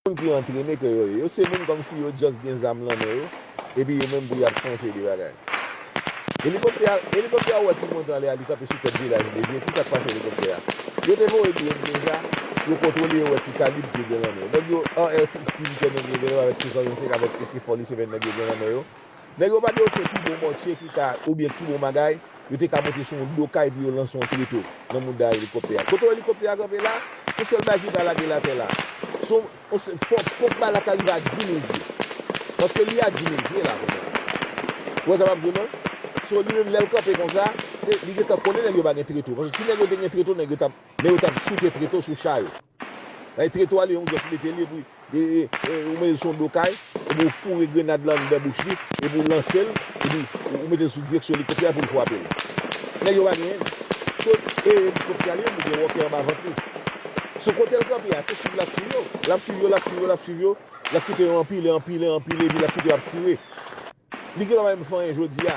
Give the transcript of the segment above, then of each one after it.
Moun ki antrene ke yo ye. Yo se moun kòmsi yo just gen zam lan men yo, epi yo menm pou yap fè yon seri de bagay. Elikoptè a, elikoptè a ou wè ki monte anlè a li kanpe sou tèt vilaj Vlezye, kisa k pase elikoptè a? Yo te voye drone deja, yo kontwole yo wè ki kalib ke gen lan men yo. Nèg yo, AR-15 ke nèg yo genlè wè avèk K-65 avèk AK-47 nèg yo gen lan men yo, Nèg yo pa te ofri pi bon mòtye ki ka oubyen pi bon bagay yo te ka monte sou yon do kay pou yo lanse yon treto nan mouda elikoptè a. Kote elikoptè a kanpe la, yon sèl bagay ki ka lage l atè la. Se yon, fòk, fòk bal la ta rive a dimil pye. Paske li a dimil pye la konsa. Ou wè sa m ap di w non? So li menm lè l kanpe konsa, se, li gentan konnen nèg yo pa gen treto. Paske si nèg yo te gen treto, nèg yo t ap. Men yo tap souke treto sou cha yo. Bay treto ale yon zòt mete li epi ou mete l sou yon do kay epi ou foure grenad lan anndan bouch li epi ou lanse l epi ou mete l sou direksyon elikoptè a pou l fwape l. Nèg yo pa genyen li. Kot e elikoptè a li menm li gen wòkè anba vant li. Sou kote l kanpe a se swiv lap swiv yo. Lap swiv yo, lap swiv yo, lap swiv yo. Lap kite yo anpile, anpile, anpile epi lap kite yo ap tire. Li gen lwa menm fanyen jodi a.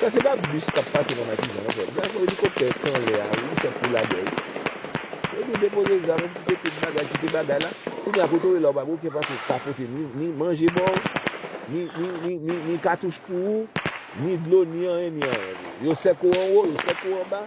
Sa se pa bus kap pase nan matizan non frem. Gade fo elikoptè k anlè a wi tank pou lagè wi. Yo di depoze zam epi kite tout bagay kite bagay la. Kounye a kote w ye la w pa gen oken paspò pou ka pote ni manje ba w ni katouch pou ou ni dlo ni anyen ni anyen. Yo sèk ou anwo yo sèk ou anba.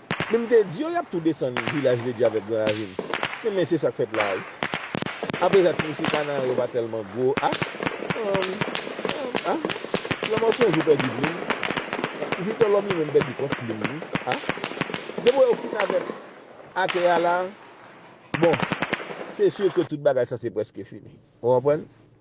Men m te di yo y ap tou desann Vilaj Ledji avèk Gran Ravin. Men men se sa k fèt la a wi. Apresa ti mesye Kanaran yo pa tèlman gwo a Humm Humm a Lanmò s on jou pèdi plim Viktò Lòm li menm pèdi kont plim li a Depo yo fin avèk atè a la a Bon se sur ke tout bagay sa se prèske fini Ou konprann